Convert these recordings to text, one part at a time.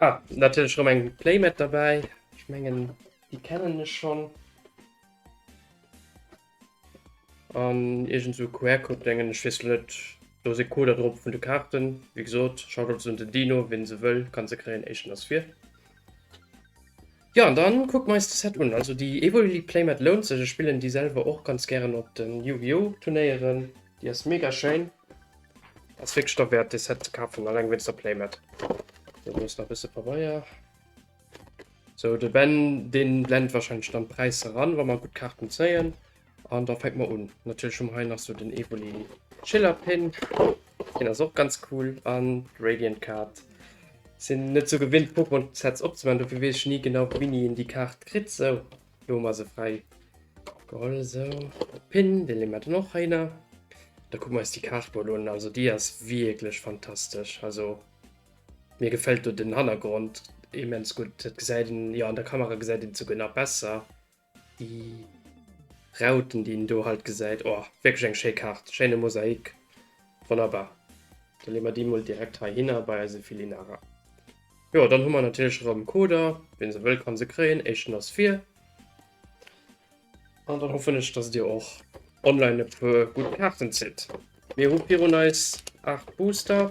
Ah, natürlich schon ein Playmat dabei. Ich mengen, die kennen es schon. An irgend so QR-Code denken, ich weiß nicht. Da ist ein Code drauf von den Karten. Wie gesagt, schaut uns den Dino, wenn sie will, kann sie kriegen, echt das vier. Jo an dann kucken mer eis de Set un. Also déi Evoli Playmat lount sech, ech spillen déi selwer och ganz gären op den Yu-Gi-Oh Turnéieren, déi ass mega schéin. Ass wierklech derwäert dee Set ze kafen, alleng wéinst der Playmat. Sou do ass nach bësse Pabeier. Sou de Ben deen blend wahrscheinlech dann d'Präisser ran wa mer gutt Kaarten zéien. An da fängt man un. Natürlich hun mer hei nach so den Evoli Chiller Pin, deen ass och ganz cool, an Radiant Kaart. Sin net sou gewinnt Pokémon Sets opzemaachen, dofir wees ech ni genau wéini een déi Kaart kritt. Sou, do hu mer se fräi geholl, sou de Pin, dee leeë mer dann och heihinner. Da kucke mer eis déi Kaart mol un, also déi ass wierklech fantastesch, also mir gefällt do den Hannergrond immens gutt. Dat gesäit een, jo an der Kamera gesäit een et souguer nach besser. Déi Rauten déi een do halt gesäit, oh wierklech eng schéi Kaart, schéine Mosaik, wonnerbar. Da leeë mer déi mol direkt heihinner bei eise Filinara. Jo dann hu mer natierlech erëm Coder, wien se wëll kann se kréien, éischten ass vir. An dann hoffen ech dass dir och online e puer gutt Kaarten zitt. Mir hu virun eis 8 Booster.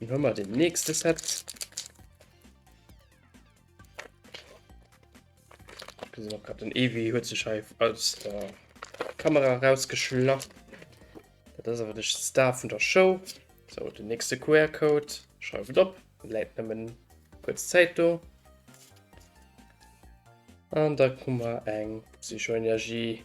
Dann hun mer den nächste Set. Gesinn och grad den Eevee huet sech hei aus der Kamera rausgeschlaff. Dat ass awer de Star vun der Show. So den nächste QR-Code schreift et op, läit nëmmen kuerz Zäit do. An da hu mer eng Psychoenergie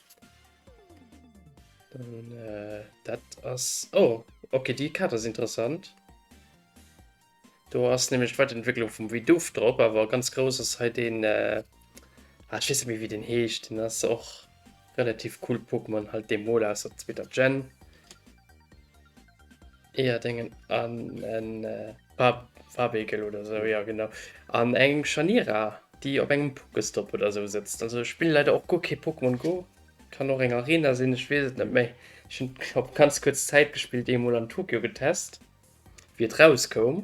Dann, äh, dat ass... Oh, okay, déi Kaart ass interessant. Do ass nämlech d'Weiterentwicklung vum Vidoof drop, awer ganz grouss ass hei den... Äh, ah, ich weiß nicht, wie den heescht. Den ass och relativ cool Pokémon, halt de Mola aus der zweeter Gen. Eer dengen an en Farbegel oder sou ja genau an engem Scharnira déi op engem Pokestopp oder sou sëtzt. Also ech spille leider och guer kee Pokémon Go, kann och eng Arena sinn, ech weess et net méi. Ech hunn op ganz kuerz Zäit gespillt eemol an Tokio getest wéi et rauskoum.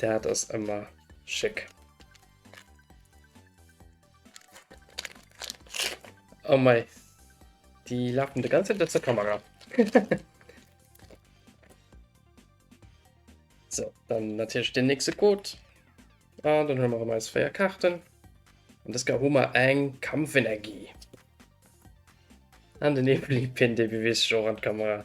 Dat ass ëmmer schéck. Oh mei, die lafen de ganze Zeit zur Kamera. so, dann natürlich den nächste Code. Ah, dann hun mer rem eis 4 Karten. An des Kar hu mer eng Kampfenergie. An den Evelipin, dee bewees sech och an d'Kamera.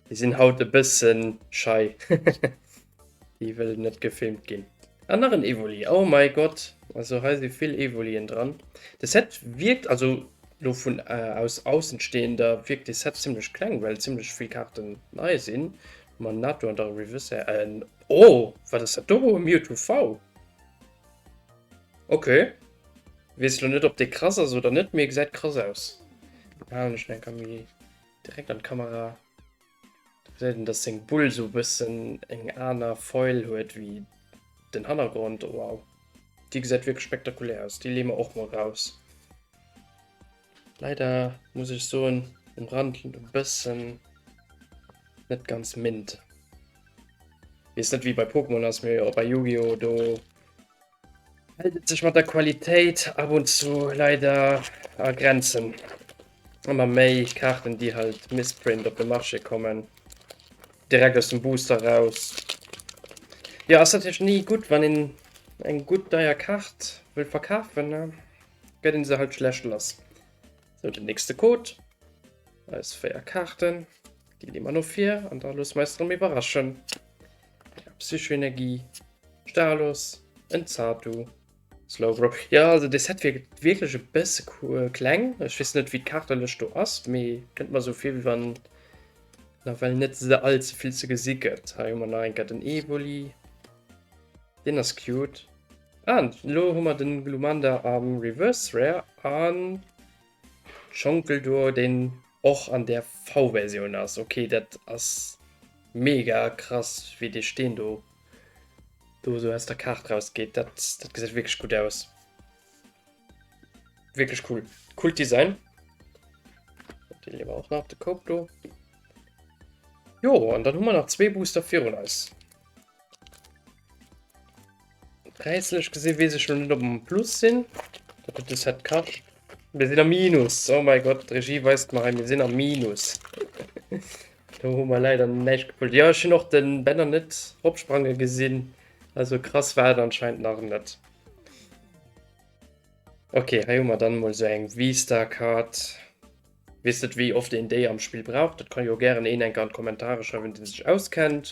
Déi sinn haut e bëssen schei. Déi wëllen net gefilmt ginn. An nach en Evoli. Oh mei Gott, also hei si vill Evolien dran. De Set wierkt, also lo vun aus Aussenstehender, wierkt de Set zimlech kleng, well zimlech vill Karten nei sinn. Monado an der Revisé en Oh wat ass dat do e Mewtwo V? Ok wees lo net op dee krass ass oder net mee gesäit krass aus. Halen ech en enker méi direkt an d'Kamera do gesäit een dass seng Bull sou bëssen eng aner Foil huet wéi den Hannergrond. Wow déi gesäit wierklech spektakulär aus, déi leeë mer och mol raus. Leider muss ech soen, um Rand e bëssen net ganz mint. Wees net wéi bei Pokémon ass, mee och bei Yu-Gi-Oh! do hält et sech mat der Qualitéit ab und zu leider a Grenzen. Ëmmer méi Kaarten, déi halt Misprint op de Marché kommen, direkt aus dem Booster raus. Jo, ass natierlech ni gutt, wann een eng gutt deier Kaart wëll verkafen, ne? gett een se halt schlecht lass. Sou den nächste Code, eis 4 Kaarten, déi leeë mer no vir an da loosse mer eis drem iwwerraschen. Psychoenergie, Stalos, en Zatu, Slowbro. Jo also de Set wierkt wierklech e bësse kleng. Ech weess net wéi d'Kaartelëscht do ass, mee kënnt mer esou vir wéi wann nawell net ze all ze vill ze gesi gëtt. Hei hu mer nach eng Kéier den Evoli, deen ass cute. An lo hu mer den Glumanda am Reverse Rare an Schonkel duo deen och an der V-Versioun ass. Ok dat ass mega krass wéi dee Steen do do sou aus der Kaart raus geet. Dat dat gesäit wierklech gutt aus. Wierklech cool. Coolt Design. Dee leeë mer och nach op de Koup do. Jo an dann hu mer nach zwee Booster virun eis. Präislech gesinn weess ech lo net ob mer am Plus sinn. Wat huet de Set kascht? Mir sinn am Minus. Oh mäi Gott, d'Regie weist mer hei, mir sinn am Minus. Do hu mer leider näischt gepullt. Jo, ech hunn och de Banner net ropsprange gesinn. Also krass war et anscheinend nach net. Ok, hei hu mer dann emol esou eng V-Star Card. Wees net wéi oft een déi am Spill brauch? Dat ka jo gären een enk an d'Kommentare schreiwen deen sech auskennt,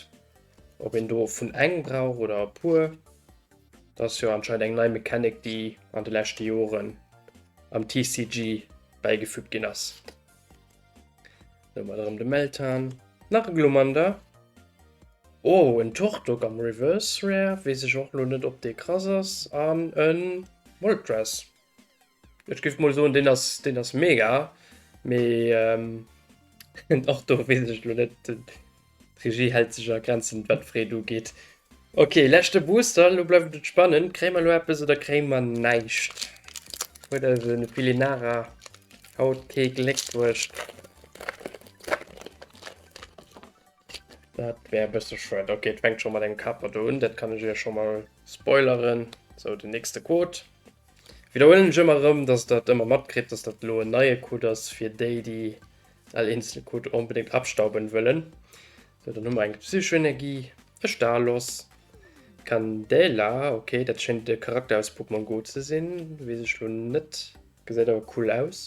ob een do vun eng brauch oder e puer. Dat ass jo anscheinend eng nei Mechanic déi an de leschte Joren am TCG bäigefügt ginn ass. Do hu mer erëm de Meltan, nach e Glumanda, oh en Turtok am Reverse Rare, wees ech och lo net ob dee krass ass, an e Moltres. Ech giff mol soen deen ass deen ass mega mee ehm och do wees ech lo net d'Regie hält sech a Grenzen wat d'Freed ugeet. Ok leschte Booster lo bleift et spannend kréie mer lo eppes oder kréie mer näischt huet also de Feelinara haut kee Gléck bruecht. Dat wär e bësse schued. Ok, et fänkt scho mat engem Kaper do un, dat kann ech iech scho mol spoileren. Sou, den nächste Code. Widderhuelen ech ëmmer erëm, dass der et ëmmer matkritt, dass dat elo en neie Code ass fir déi, déi all eenzel Code onbedéngt abstauben wëllen. Sou, dann hu mer eng Psychoenergie, e Stalos, Candela, ok, dat schéint e Charakter aus Pokémon Go ze sinn, weess ech elo net, gesäit awer cool aus.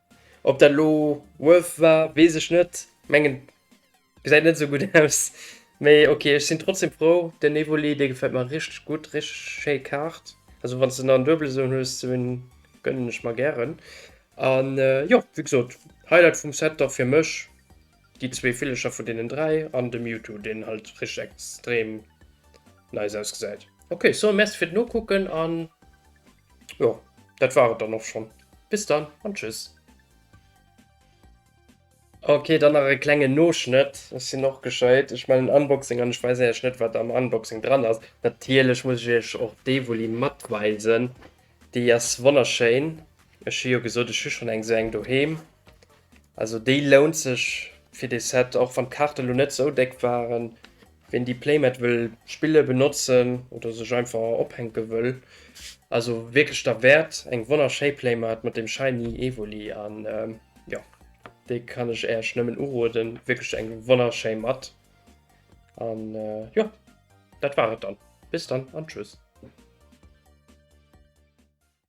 Op dat lo worth war wees ech net, mengen gesäit net sou gudd aus, mee ok ech sin trotzdem frou. Den Evoli dee gefällt mer richteg gudd, richteg schéi Kaart, also wanns de nach en Duebelen esou en hues, sou en gönnen ech mer gären. An jo wéi gesoot Highlight vum Set dach fir mech déi zwee Villecher vun deenen 3 an de Mewtwo deen halt richteg extrem nice ausgesäit. Ok, sou merci fir d'Nokucken an. Jo, dat war et dann och schonn. Bis dann an tschüss. Ok, dann nach e klengen Noschnëtt. Ech sinn och gescheit, ech man en Unboxing an ech weisen iech net wat am Unboxing dran ass. Natierlech muss ech iech och dee Wulli matweisen. Déi ass wonnerschéin. Ech hu jo gesot, ech hu schonn eng sou eng doheem. Also déi lount sech fir dee Set, och wann d'Kaarte lo net sou déck waren. Ween déi Playmat wëll spille, benotzen oder sech einfach ophänke wëll, ass o wierklech derwäert. Eng wonnerschéi Playmat mat dem shiny Evoli an jo, déi kann ech Äerch nëmmen uroden. Wierklech eng wonnerschéi Matt an jo, dat war et dann. Bis dann an tschüss.